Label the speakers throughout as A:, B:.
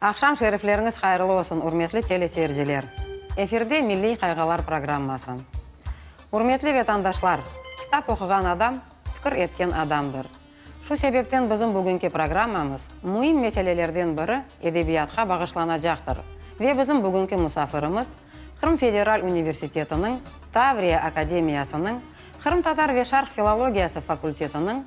A: Aqşam şerifleriñiz hayırlı olsun, ürmetli teleseyirciler! Efirde Milliy qayğalar programması. Ürmetli vetandaşlar, kitap oquğan adam, fikir etken adamdır. Şu sebepten bizim bugünki programmamız müim meselelerden biri edebiyatqa bağışlanacaqtır ve bizim bugünki musafirimiz Qırım Federal Universitetiniñ Tavriya Akademiyasınıñ Qırımtatar ve Şarq filologiyası fakultetiniñ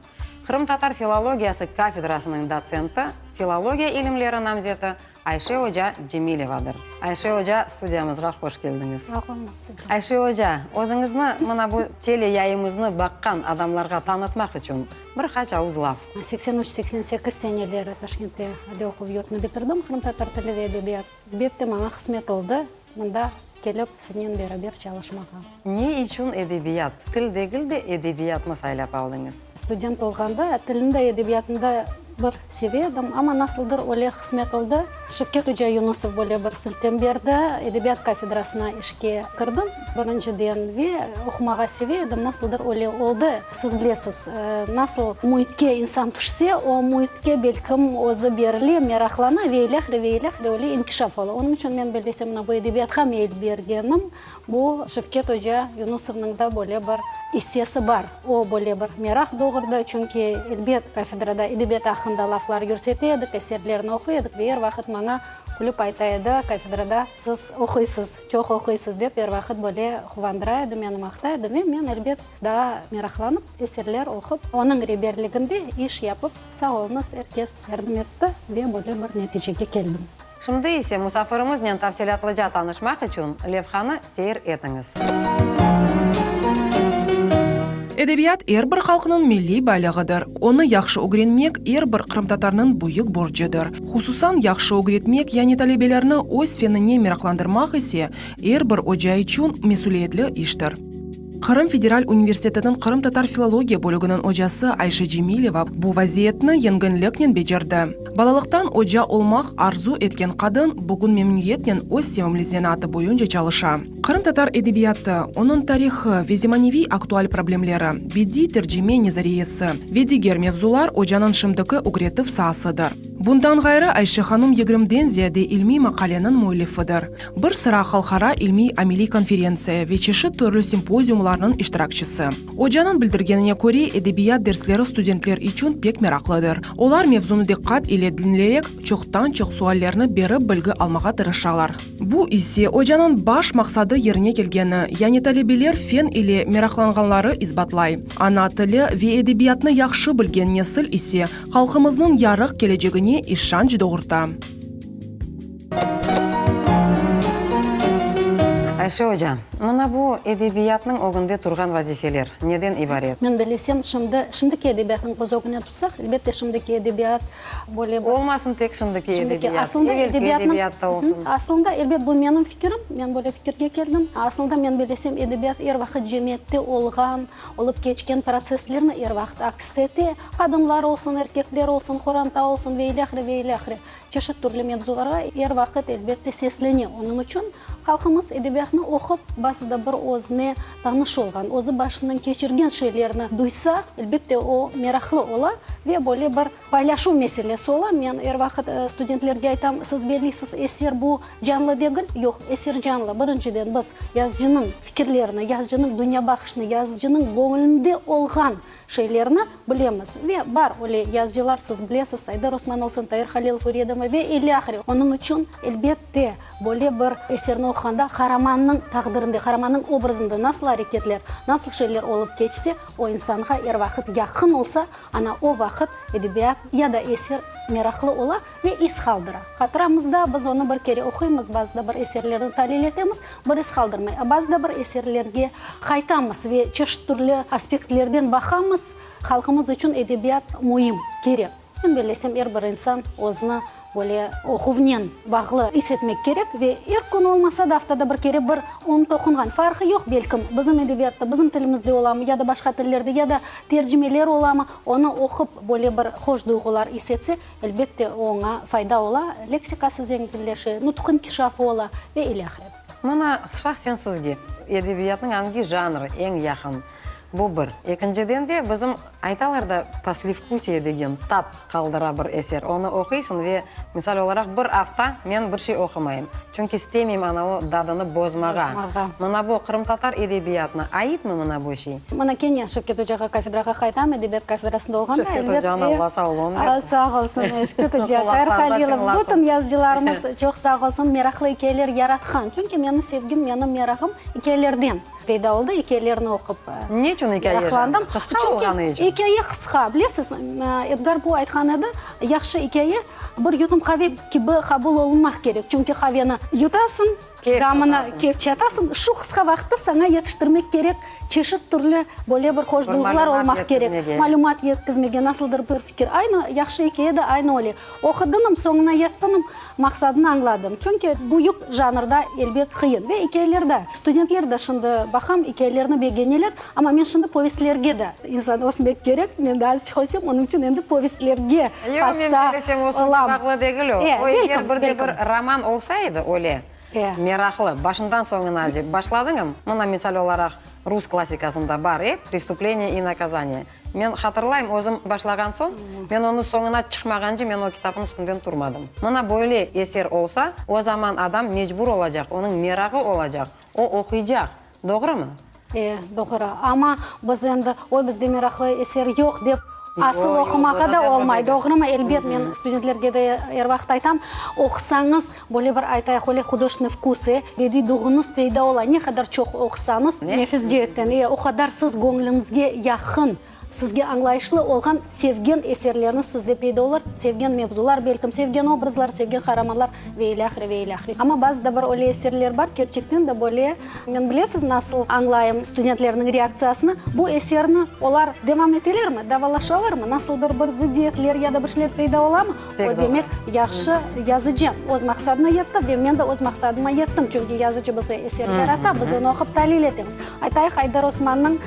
A: Qırımtatar filologiyası kafedrasınıñ dotsenti, filologiya ilimleri namzeti Ayşe oca Cemilevadır. Ayşe oca, studiyamızğa hoş keldiñiz. Sağ olun, siz de. Ayşe oca, özüñizni mına bu teleyayımıznı baqqan adamlarğa tanıtmaq içün bir qaç avuz laf. Seksen üç, seksen sekiz
B: seneleri Taşkentte aliy oquv yurtunu bitirdim, qırımtatar tili ve edebiyat. Elbette, maña qısmet oldı, Mında kelip siznen beraber çalışmağa. Ne içün
A: edebiyat, til degil de edebiyatnı saylap aldıñız? Student olğanda
B: tilni de edebiyatnı da bir seve edim, amma nasıldır öyle qısmet oldı, Şevket oca Yunusov böyle bir siltem berdi, edebiyat kafedrasına işke kirdim, birinciden, ve oqumağa seve edim, nasıldır öyle oldı. Siz bilesiz, nasıl müitke insan tüşse, o müitke belkim özü berile, meraqlana ve ilâhre ve ilâhre öyle inkişaf ola. Onıñ içün men böyle semına bu edebiyatqa meyil bergenim, bu Şevket oca Yunusovnıñ da böyle bir issesi bar. O böyle bir meraq doğurdı, çünki elbet kafedrada edebiyat aqqında laflar yürsete edik, eserlerini oquy edik ve er vaqıt maña külüp ayta edi, kafedrada siz oquysız, çoq oquysız dep er vaqıt böyle quvandıra edi meni, maqta edi ve men elbet, Daa meraqlanıp, eserler oqup, onıñ reberliginde iş yapıp, sağ olunız, er kes yardım etti ve böyle bir neticege keldim. Şimdi ise
A: musafirimiznen tafsilâtlıca tanışmaq içün levhanı seyir etiñiz.
C: Edebiyat er bir halqnıñ milliy baylığıdır. Onı yahşı ögrenmek er bir qırımtatarnıñ büyük borcudır. Hususan, yahşı ögretmek, yani talebelerni öz fenine meraqlandırmaq ise, er bir oca içün mesüliyetli iştir. Qırım federal universitetiniñ qırımtatar filologiya bölüginiñ ocası Ayşe Cemileva bu vaziyetni yengünliknen becerdi. Balalıqtan oca olmaq arzu etken qadın bugün memnüyetnen öz sevimli zenaatı boyunca çalışa. Qırımtatar edebiyatı, onıñ tarihı ve zemaneviy aktual problemleri, bediy tercime nezariyesi ve diger mevzular ocanıñ şimdiki ögretüv saasıdır. Bundan ğayrı, Ayşe hanım yigrimden ziyade ilmiy maqaleniñ müellifidir. Bir sıra halqara ilmiy-ameliy konferentsiya ve çeşit törlü simpoziumlarnıñ iştirakçisi. Ocanıñ bildirgenine köre, edebiyat dersleri studentler içün pek meraqlıdır. Olar mevzunı diqqat ile diñlerek, çoqtan-çoq suallerni berip bilgi almağa tırışalar. Bu ise ocanıñ baş maqsadı yerine kelgeni, yani talebeler fen ile meraqlanğanları isbatlay. Ana tili ve edebiyatnı yahşı bilgen nesil ise halqımıznıñ yarıq kelecegine işanç doğurta.
A: Ayşe oca, mına bu edebiyatnıñ ögünde turğan vazifeler neden ibaret? Men bilesem, şimdi,
B: şimdiki edebiyatnıñ köz ögüne tutsaq, elbette, şimdiki edebiyat böyle bir. Olmasın tek şimdiki
A: edebiyat, aslında edebiyat da olsun. Aslında,
B: elbet, bu menim fikirim, men böyle fikirge keldim. Aslında, men bilesem, edebiyat er vaqıt cemiyette olğan, olıp keçken protsesslerni er vaqıt aks ete, qadınlar olsun, erkekler olsun, qoranta olsun ve ilâhre, ve ilâhre. Çeşit türlü mevzularğa er vaqıt, elbette, seslene. Onıñ içün halqımız edebiyatnı oqup, bazı da bir özüne tanış olğan, özü başından keçirgen şeylerni duysa, elbette, o, meraqlı ola ve böyle bir paylaşuv meselesi ola. Men er vaqıt studentlerge aytam, siz bellisiz, eser bu, canlı degil. Yoq, eser canlı. Birinciden, biz yazıcınıñ fikirlerini, yazıcınıñ dünyabaqışını, yazıcınıñ göñlünde olğan şeylerni bilemiz. Ve bar öyle yazıcılar, siz bilesiz, Saydar Osman olsun, Tair Halilov, Ürye Dımov ve ilâhre. Onıñ içün, elbette, böyle bir eserni oquğanda qaramannıñ taqdirinde, qaramannıñ obrazında nasıl areketler, nasıl şeyler olıp keçse, o insanğa er vaqıt yaqın olsa, ana o vaqıt edebiyat ya da eser meraqlı ola. Ne iz qaldıra? Hatıramızda biz onı bir kere oquymız, bazı da bir eserlerni talil etemiz, bir iz qaldırmay. A bazı da bir eserlerge qaytamız ve çeşit türlü aspektlerden baqamız, halqımız içün edebiyat müim, kerek. Men böyle esem, er bir insan özüni böyle oquvnen bağlı is etmek kerek ve er kün olmasa da, aftada bir kere bir onı toqunğan, farqı yoq, belkim, bizim edebiyatta, bizim tilimizde olamı ya da başqa tillerde ya da tercimeler olamı, onı oqup böyle bir hoş duyğular is etse, Elbette, oña fayda ola, leksikası zenginleşe, nutq inkişafı ola ve ilâhre.
A: Mına, şahsen
B: sizge
A: edebiyatnıñ angi janrı
B: eñ
A: yaqın? Bu bir. Ekinciden de, bizim aytalar da, poslevkusiye degen tat qaldıra bir eser. Onı oquysıñ ve, misal olaraq, bir afta men bir şey oqumayım. Çünki istemeyim anavı dadını bozmağa. Mına bu, qırımtatar edebiyatına aitmi mına bu şey? Mına kene Şevket
B: ocağa kafedrağa qaytam, edebiyat kafedrasında olğanda, elbet de. Şevket ocağına Alla sağlığın
A: bersin. Sağ olsun,
B: Şevket oca, Tahir Halilov, bütün yazıcılarımız çoq sağ olsun, meraqlı ikâyeler yaratqan. Çünki menim sevgim, menim meraqım ikâyelerden peyda oldı, ikâyelerini oqup meraqlandım. Ne içün ikâye janrı?
A: Qısqa olğanı içün? Çünki ikâye qısqa, bilesiz,
B: Edgar Poo aytqan edi, yahşı ikâye, Bir yutum qave kibi qabul olunmaq kerek, çünki qaveni yutasıñ, gamını kefçe atasıñ, şu qısqa vaqıtta saña yetiştirmek kerek çeşit türlü böyle bir hoş duyğular olmaq kerek, malümat yetkizmege, nasıldır bir fikir. Aynı yahşı ikâye de aynı öyle. Oqudıñım, soñuna yettiñim, maqsadını añladıñ. Çünki büyük janrda, elbet, qıyın. Ve ikâyeler de, studentler de şimdi baqam, ikâyelerni begeneler. Amma men şimdi povestlerge de insan ösmek kerek, men de azıcık ösem, onıñ içün endi povestlerge hasta
A: olam. Bağlı degil o. O eger bir de bir roman olsa edi, öyle meraqlı, başından soñuna acayip başladıñam, mına, misal olaraq, rus klassikasında bar edi, Prestupleniye i nakazaniye. Men hatırlayım, özüm başlağan soñ, men onı soñuna çıqmağance men o kitapnıñ üstünden turmadım. Mına böyle eser olsa, o zaman adam mecbur olacaq, onıñ merağı olacaq, o oquycaq. Doğrumı? E, doğru.
B: Amma biz endi, oy, bizde meraqlı eser yoq dep asıl oqumağa da olmay. Doğrumı? Elbet, men studentlerge de er vaqıt aytam, oqusañız, böyle bir aytayıq, öyle hudojnıy vkusı ve diyduğıñız peyda ola. Ne qadar çoq oqusañız, nefis ceetten, e, o qadar siz göñlüñizge yaqın. Sizge añlayışlı olğan sevgen eserlerniz sizde peyda olur, sevgen mevzular, belkim, sevgen obrazlar, sevgen qaramanlar ve ile ahire, ve ile ahire. Amma bazı da bir öyle eserler bar, kerçekten de böyle, men bilesiz, nasıl añlayım studentlerniñ reaktsiyasını, bu eserni olar devam etelermi, davalaşalarmı, nasıldır bir zıddiyetler ya da bir şeyler peyda olamı, o demek, yahşı yazıcı öz maqsadına yetti ve men de öz maqsadıma yettim, çünki yazıcı bizge eser yarata, biz onı oqup talil etemiz. Aytayıq, Ayder Osmannıñ.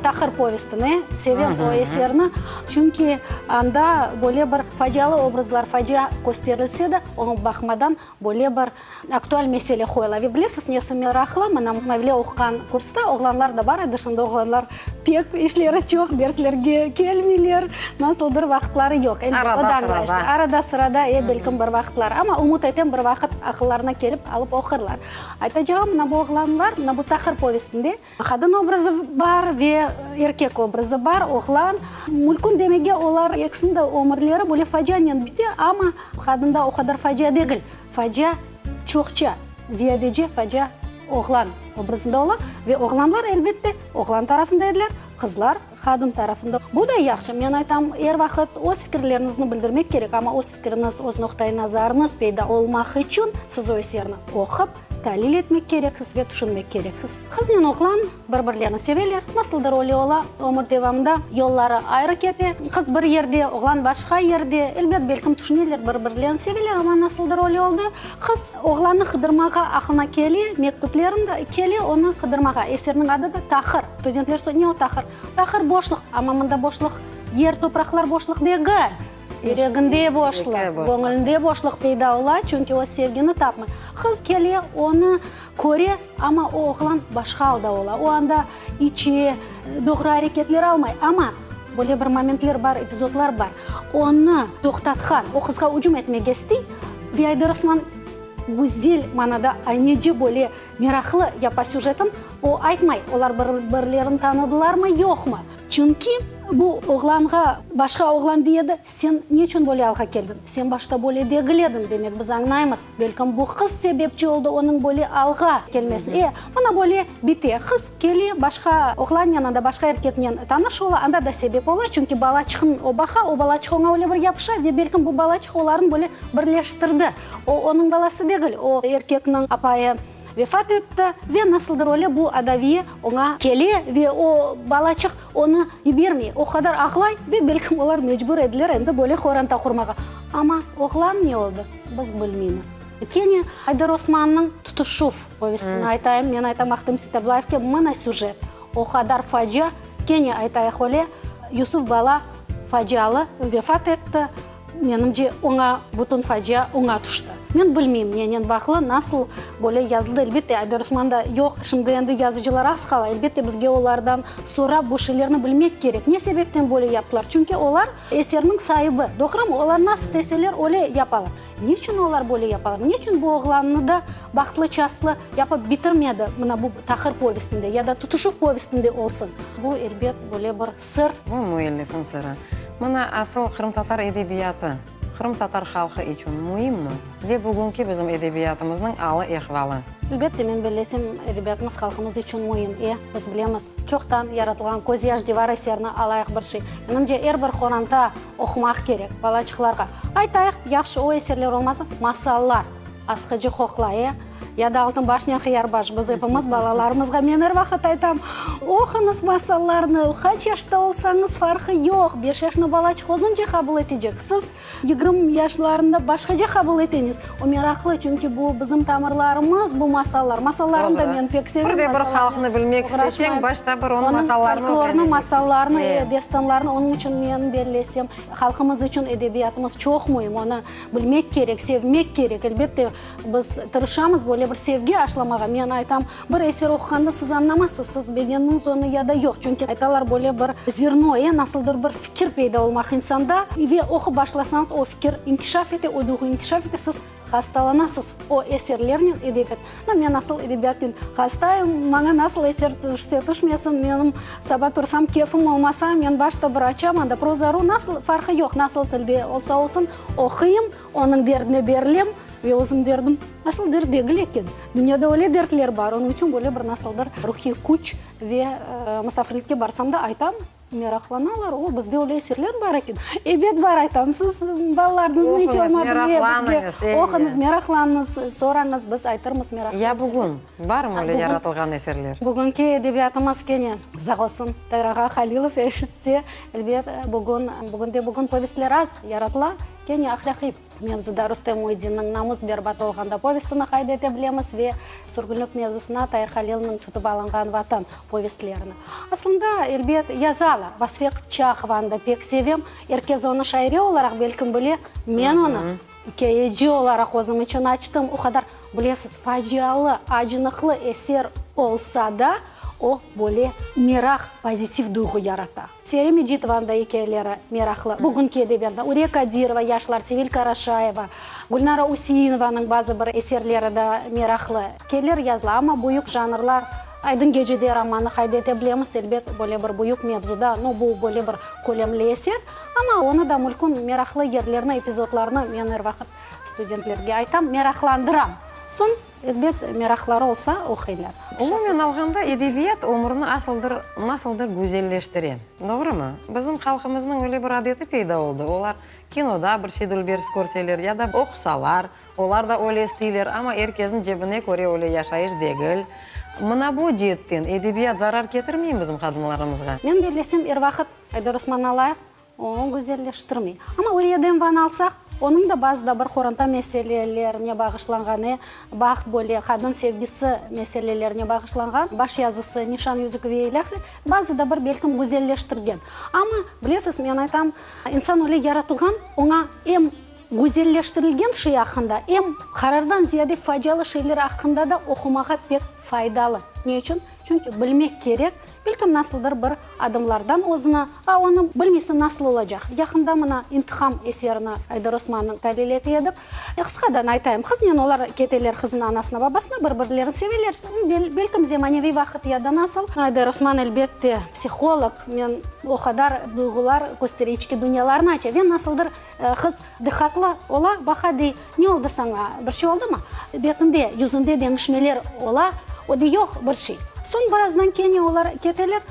B: Taqır povestini sevem o eserni, çünki anda böyle bir facialı obrazlar, facia kösterilse de, oña baqmadan böyle bir aktual mesele qoyula. Ve bilesiz, nesi meraqlı, mana Mavile oquğan kursta oğlanlar da bar edi, şimdi oğlanlar pek işleri çoq, derslerge kelmeyler, nasıldır vaqıtları yoq. Arada sırada. Arada sırada, e, belkim bir vaqıtlar, amma ümüt etem bir vaqıt aqıllarına kelip alıp oqurlar. Aytacağım, mına bu oğlanlar, mına bu Taqır povestinde, Qadın obrazı bar ve erkek obrazı bar, oğlan. Mülkün demege olar ekisiniñ de ömürleri böyle facianen bite, amma qadında o qadar facia degil. Facia çoqça, ziyadece facia oğlan obrazında ola ve oğlanlar, elbette, oğlan tarafında ediler, qızlar, qadın tarafında. Bu da yahşı. Men aytam, er vaqıt öz fikirlernizni bildirmek kerek, amma öz fikiriñiz, öz noqtaiy nazarıñız peyda olmaq içün siz o eserni oqup, Talil etmek kereksiz ve tüşünmek kereksiz. Qıznen oğlan bir-birlerini seveler, nasıldır öyle ola, ömür devamında yolları ayrı kete, qız bir yerde, oğlan başqa yerde, elbet, belkim, tüşüneler, bir-birlerini seveler, amma nasıldır öyle oldı, qız oğlannı qıdırmağa aqlına kele, mektüplerini de kele, onı qıdırmağa, eserniñ adı da Tahır, studentler, ne o Tahır? Tahır, boşluq, amma mında boşluq, yer, topraqlar boşluq degil. Yüreginde boşlıq, göñülinde boşlıq peyda ola, çünki o sevgini tapmay. Qız kele, onı köre, amma o oğlan başqa alda ola. O anda içe, doğru areketler almay. Amma böyle bir momentler bar, epizodlar bar, onı toqtatqan, o qızğa ücüm etmege istey, ve Ayder Osman güzel manada, ayneci böyle meraqlı yapa süjetini, o aytmay, olar bir-birlerini tanıdılarmı, yoqmı. Çünki bu oğlanğa başqa oğlan dey edi, sen ne içün böyle alğa keldiñ? Sen başta böyle degil ediñ, demek, biz añlaymız, belkim, bu qız sebepçi oldı onıñ böyle alğa kelmesine. E, mına böyle bite, qız kele, başqa oğlannen, anda başqa erkeknen tanış ola, anda da sebep ola, çünki balaçıqnı o baqa, o balaçıq oña öyle bir yapışa, ve belkim, bu balaçıq olarnı böyle birleştirdi. O, onıñ balası degil, o, erkekniñ apayı. Vefat etti ve nasıldır öyle bu adaviye oña kele ve o balacıq onı yibermey. O qadar ağlay ve belkim olar mecbur ediler endi böyle qoranta qurmağa. Amma oğlan ne oldı, biz bilmeymiz. Kene Ayder Osmannıñ Tutuşuv povestini aytayım. Men aytam Ahtem Sitablayevke mına süjet. O qadar facia, kene aytayıq öyle, Yusuf bala facialı vefat etti. Menimce, oña bütün facia oña tüşti. Men bilmeyim, nenen bağlı, nasıl böyle yazıldı. Elbette, Aybir Osman da yoq. Şimdi endi yazıcılar az qala. Elbette, bizge olardan sorap, bu şeylerni bilmek kerek. Ne sebepten böyle yaptılar? Çünki olar eserniñ saibi, doğrumı? Olar nasıl isteseler, öyle yapalar. Ne içün olar böyle yapalar? Ne içün bu oğlannı da Bahtlı Çaslı yapıp bitirmedi, mına bu Taqır povestinde ya da Tutuşuv povestinde olsun? Bu, elbet, böyle bir sır. Bu müellifin
A: sırı. Mına asıl qırımtatar edebiyatı, qırımtatar halqı içün müimmi ve bugünki bizim edebiyatımıznıñ alı-ehvalı. Elbette, men bellesem,
B: edebiyatımız halqımız içün müim. E, biz bilemiz, çoqtan yaratılğan Közyaş divarı eserini alayıq bir şey. Menimce, er bir qoranta oqumaq kerek balaçıqlarğa. Aytayıq, yahşı o eserler olmasa, masallar. Asqıcı qoqlaya ya da Altınbaşnen Qıyarbaş, biz epimiz balalarımızğa, men er vaqıt aytam, oquñız masallarnı, qaç yaşta olsañız farqı yoq, beş yaşnı bala çhozınca qabul etecek, siz yigrim yaşlarında başqaca qabul eteñiz. O meraqlı, çünki bu bizim tamırlarımız, bu masallar. Masallarnı da men pek sevim. Birde bir halqnı bilmek
A: isteseñ, başta bir onıñ masallarını ögrenecekseñ. Onıñ folklornı, masallarnı,
B: destanlarnı, onıñ içün men, belli esem, halqımız içün edebiyatımız çoq müim, onı Bilmek kerek, sevmek kerek. Elbette, biz tırışamız böyle bir sevgi aşlamağa. Men aytam, bir eser oquqanda siz añlamazsız, siz begendiñiz onı ya da yoq. Çünki aytalar, böyle bir zerno, e, nasıldır bir fikir peyda olmaq insanda. Ve oqup başlasañız, o fikir inkişaf ete, o duyğu inkişaf ete, siz hastalanasız o eserlernen, edebiyat. No, men asıl edebiyatten hastayım, maña nasıl eser tüşse tüşmesin, menim saba tursam, keyfim olmasa, men başta bir açam, anda proza ru, nasıl, farqı yoq, nasıl tilde olsa olsun, oquyım, onıñ derdine berilem ve özüm derdim, asıl dert degil eken, dünyada öyle dertler bar, onıñ içün böyle bir nasıldır ruhiy küç ve musafirlikke barsam da aytam. Meraqlanalar, o, bizde öyle eserler bar eken. Ebet, bar, aytamız, siz balalarnıñız nece olmadı, bizge oquñız, meraqlanıñız, ey, oquñız, meraqlanıñız, sorañız, biz aytırmız meraqlı eserler. Ya bugün,
A: barmı öyle yaratılğan eserler? Bugünki edebiyatımız
B: kene sağ olsun Tayır ağa Halilov eşitse, elbet, bugün, bugün de bugün povestler az yaratıla, kene ahlâqiy. Mevzuda Rustem Muiddinniñ Namuz berbat olğanda povestini qayd ete bilemiz ve sürgünlik mevzusına Tair Halilniñ Tutıp alınğan Vatan povestlerini. Aslında, elbet, yazalar. Vasfiye Qıpçaqovanı da pek sevem. Er kes onı şaire olaraq belkim bile, men onı ikâyeci olaraq özüm içün açtım. O qadar, bilesiz, facialı, acınıqlı eser olsa da, o, böyle, meraq, pozitiv duyğu yarata. Seri Mecidovanıñ da ikâyeleri meraqlı. Bugünki edebiyatta Ürek Kadirova, yaşlar, Sevil Karaşayeva, Gülnara Üseinovanıñ bazı bir eserleri da meraqlı. Kelir yazılı, amma büyük janrlar, Aydın gecede romanı qayd ete bilemiz, elbet, böyle bir büyük mevzuda, no, bu böyle bir kölemli eser, amma onı da mülkün meraqlı yerlerini, epizodlarını men er vaqıt studentlerge aytam, meraqlandıram. Soñ. Elbet, meraqları olsa, oquylar. Umumen alğanda,
A: edebiyat ömürni asıldır, nasıldır güzelleştire. Doğrumı? Bizim halqımıznıñ öyle bir adeti peyda oldı, olar kinoda bir şey dülbers körseler ya da oqusalar, olar da öyle isteyler, amma er kesniñ cebine köre öyle yaşayış degil. Mına bu ceetten edebiyat zarar ketirmeymi bizim qadınlarımızğa? Men bellesem, er
B: vaqıt Aydar Osmannalayıq Oñı güzelleştirmey. Amma Uriye'den van alsaq, onıñ da bazı da bir qoranta meselelerine bağışlanğanı, Baht böyle, Qadın sevgisi meselelerine bağışlanğan baş yazısı, Nişan, yüzük ve ilâhre, bazı da bir belkim güzelleştirgen. Amma, bilesiz, men aytam, insan öyle yaratılğan, oña em güzelleştirilgen şey aqqında, em qarardan ziyade facialı şeyler aqqında da oqumağa pek faydalı. Ne içün? Çünki bilmek kerek, belkim nasıldır bir adımlardan özüni, a onı bilmesen nasıl olacaq? Yaqında mına İntiham eserini Aydar Osmannıñ talil ete edik. Qısqadan aytayım, qıznen olar keteler, qızın anasına, babasına, bir-birlerini seveler. Belkim de maneviy vaqıt ya da nasıl. Aydar Osman elbette psiholog, men o qadar duyğular köstere, içki dünyalarnı aça ve nasıldır Qız diqqatlı ola, baqa dey, Ne oldı saña, bir şey oldımı? Betinde, yüzünde deñişmeler ola, o dey, Yoq, bir şey. Soñ birazdan kene olar keteler.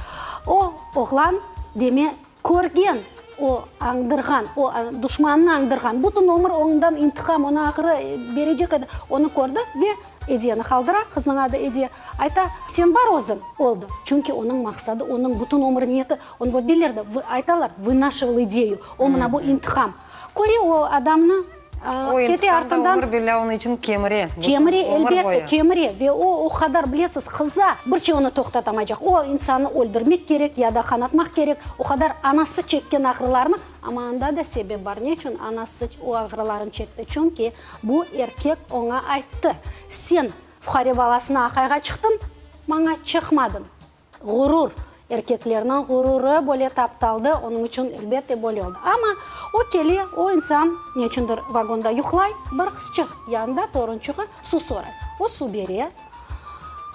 B: O, oğlan, deme, körgen, o, añdırğan, o, duşmanını añdırğan, bütün ömür ondan intiqam, onı ahırı berecek edi, onı kördi ve Ediyeni qaldıra, qıznıñ adı Ediye, ayta, Sen bar özüñ! Oldı. Çünki onıñ maqsadı, onıñ bütün ömür niyeti. Onı böyle deyler de, vı, aytalar, vınashival ideyu, o, mına bu intiham. Köre o adamnı, aa, O kete intiham da artından, ömür belâ onı içün
A: kemire, bütün kemire, ömür elbette,
B: boyu. kemire, ve o, o qadar, bilesiz, qıza, bir şey onı toqtatamaycaq. O insanı öldürmek kerek ya da qanatmaq kerek, o qadar anası çekken ağrılarnı, amma anda da sebep bar, ne içün anası o ağrılarını çekti, çünki bu erkek oña ayttı, sen fuqare balasına aqayğa çıqtıñ, maña çıqmadıñ. Ğurur, erkeklerniñ ğururı böyle taptaldı, onıñ içün, elbette, böyle oldı. Amma o kele, o insan neçündir vagonda yuqlay, bir qızçıq yanında, torunçığı, suv soray. O suv bere,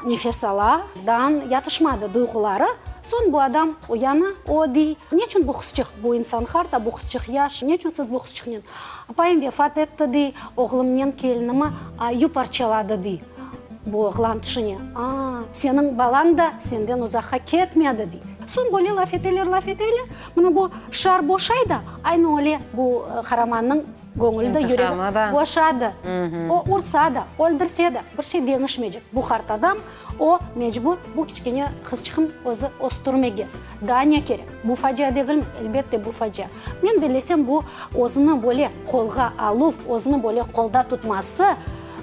B: nefes ala, dan yatışmadı duyğuları. Soñ bu adam uyana, o dey, neçün bu qızçıq, bu insan harda, bu qızçıq yaş, neçün siz bu qızçıqnen? Apayım vefat etti, dey, oğlumnen kelinimi yuparçaladı, dey. Bu oğlan tüşüne, Aa, seniñ balañ da senden uzaqqa ketmedi, dey. Soñ böyle laf eteler, laf eteler, mına bu şar boşay da, aynı öyle bu qaramannıñ göñüli de, yüregi de boşadı. O ursa da, öldürse de, bir şey deñişmeycek. Bu qart adam, o mecbur bu kiçkene qızçığını özü östürmege. Daa ne kerek? Bu facia degilmi? Elbette, bu facia. Men bellesem, bu özüni böyle qolğa aluv, özüni böyle qolda tutması,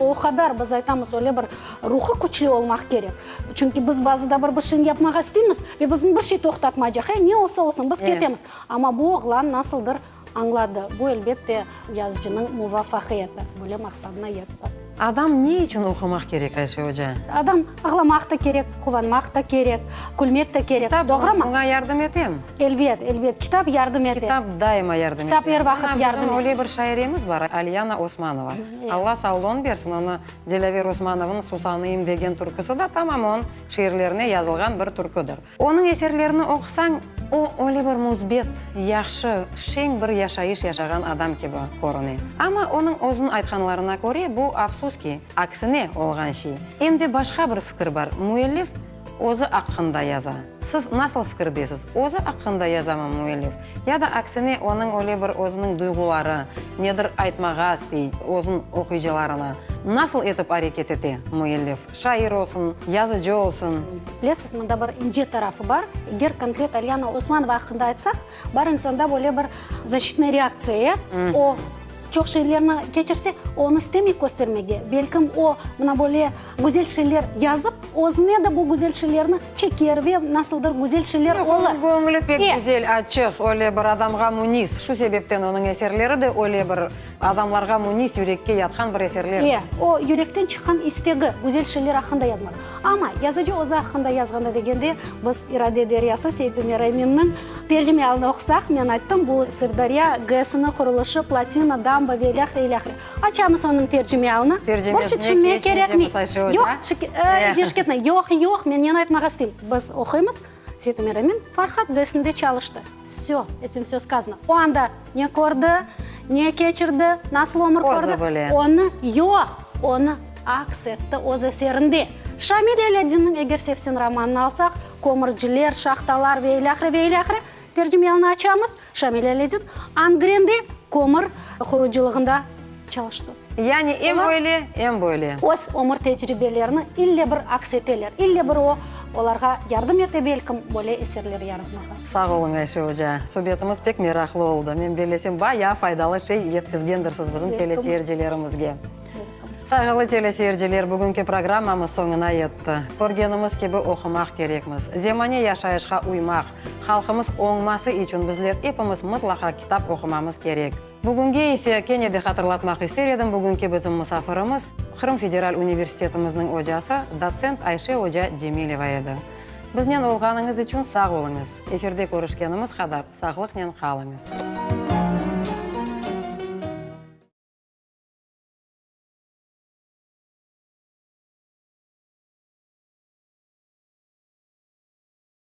B: O qadar, biz aytamız, öyle bir ruhu küçlü olmaq kerek. Çünki biz bazı da bir bir şeyni yapmağa isteymiz ve bizni bir şey toqtatmaycaq, e, ne olsa olsun, biz ketemiz. Amma bu oğlan nasıldır añladı. Bu, elbet de, yazıcınıñ muvafaqiyeti, böyle maqsadına yetti. Adam ne içün
A: oqumaq kerek, Ayşe oca? Adam ağlamaq
B: da kerek, quvanmaq da kerek, külmek de kerek, doğrumı? Kitap oña yardım etemi?
A: Elbet, elbet, kitap
B: yardım ete. Kitap daima yardım ete.
A: Kitap er vaqıt yardım ete.
B: Bizim öyle bir şairemiz bar,
A: Aliyana Osmanova. Alla sağlığın bersin, onı Dilâver Usmanovnıñ Susanıyım degen türküsi da tamam onıñ şiirlerine yazılğan bir türküdir. Onıñ eserlerini oqusañ, o, öyle bir müsbet, yahşı, şeñ bir yaşayış yaşağan adam kibi körüne. Amma onıñ özüniñ aytqanlarına köre, bu, afsus ki, aksine olğan şey. Em de başqa bir fikir bar, müellif, Özü aqqında yaza. Siz nasıl fikirdesiz, özü aqqında yazamı müellif, ya da aksine, onıñ öyle bir özüniñ duyğuları, nedir aytmağa istey, özün oquyıcılarına nasıl etip areket ete, müellif, şair olsun, yazıcı olsun? Bilesiz, mında bir
B: ince tarafı bar, eger konkret Aliyana Osmanova aqqında aytsaq, bar insanda böyle bir zaşitnıy reaktsiya, ya, o, çoq şeylerni keçirse, onı istemey köstermege, belkim, o, mına böyle, Güzel şeyler yazıp, özüne de bu güzel şeylerni çeker ve nasıldır güzel şeyler olur. Yoq, onıñ köñli pek güzel,
A: açıq, öyle bir adamğa münis. Şu sebepten onıñ eserleri de öyle bir adamlarğa münis, yürekke yatqan bir eserler. E, o, yürekten
B: çıqqan istegi güzel şeyler aqqında yazmaq. Amma yazıcı özü aqqında yazğanda degende, biz İrade deryası Seit Ümer Eminniñ tercimealını oqusaq, men ayttım, bu Sırdarya GESiniñ qurulışı, platina, damba ve ilâhre, ilâhre. Açamız onıñ tercimeavını. Bir şey tüşünmek kerekmi? Yoq, Deşketnıy, yoq, yoq, men neni aytmağa isteyim. Biz oquymız, Setim Eremin Farhad dersinde çalıştı. Vsё, etim vsё skazano. O anda ne kördi, ne keçirdi, nasıl ömür kördi, onı, yoq, onı aks etti öz eserinde. Şamil Elâddinniñ Eger sevsen romanını alsaq, Kömürciler, Şahtalar ve ilâhre, ve ilâhre, tercimeavını açamız. Şamil Aleddin Angrende kömür qurucılığında çalıştı. Yani em
A: böyle, em böyle. Öz ömür
B: tecribelerini ille bir aks eteler, ille bir o olarğa yardım ete belkim böyle eserler yaratmağa. Sağ oluñ, Ayşe
A: oca. Subetimiz pek meraqlı oldı. Men bellesem, bayağı faydalı şey yetkizgendirsiz bizim teleseyircilerimizge. Sayğılı teleseyirciler, bugünki programmamız soñuna yetti. Körgenimiz kibi oqumaq kerekmiz. Zemane yaşayışqa uymaq, Halqımız oñması içün bizler epimiz mıtlaqa kitap oqumamız kerek. Bugünge ise kene de hatırlatmaq ister edim, bugünki bizim musafirimiz Qırım Federal universitetimizniñ ocası, dotsent Ayşe oca Cemileva edi. Biznen olğanıñız içün sağ oluñız. Efirde körüşkenimiz qadar sağlıqnen qalıñız.